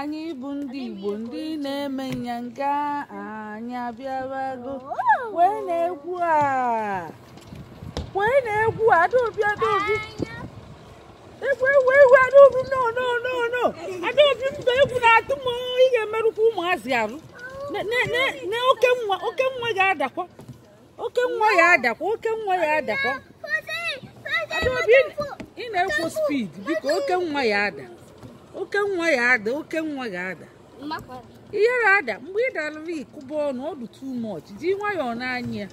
anyị bụ ndị igbo ndị na-eme nyanga anyị abịawago wee na-egwu a wee na-egwu a adaobi adaobi egwu egwu egwu adaobi no no no no adaobi mba egwu na-atụ m ị ga-emerụkwa ụmụazị arụ na okenwa okenwa ga-adakwa okenwa ya-adakwa okenwa ya-adakwa adaobi ị na-ekwu speed biko okenwa ya-ada okenwa ya-ada okenwa ya-ada ihere ada mgbe ị dara ị kụba ọnụ ọ dụ too much ji nwayọọ na-anya ya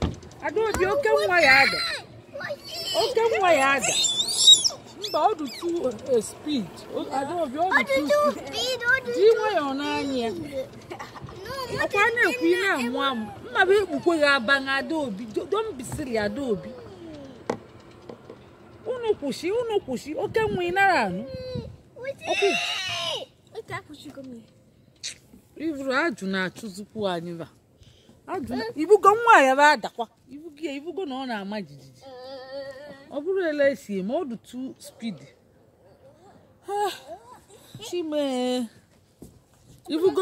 adaobi okenwa ya-ada okenwa ya-ada mba ọ dị too speed adaobi ọ dị too speed ji nwayọọ na-anya ọkwa na-ekwu ị na-amụ amụ mma bụ ekpukwe gị aba na adaobi don't be silly adaobi unu kwụsị unu kwụsị okenwa ị nara anụ ọkụ ivuru ajụ na-achụzikwu anyị ba ị hụgo nwa ya bụ adakwa ị hụgo ya ị hụgo na ọ na-ama jijiji ọ bụrụ ele esi eme ọ dị too speed chim e ị hụgo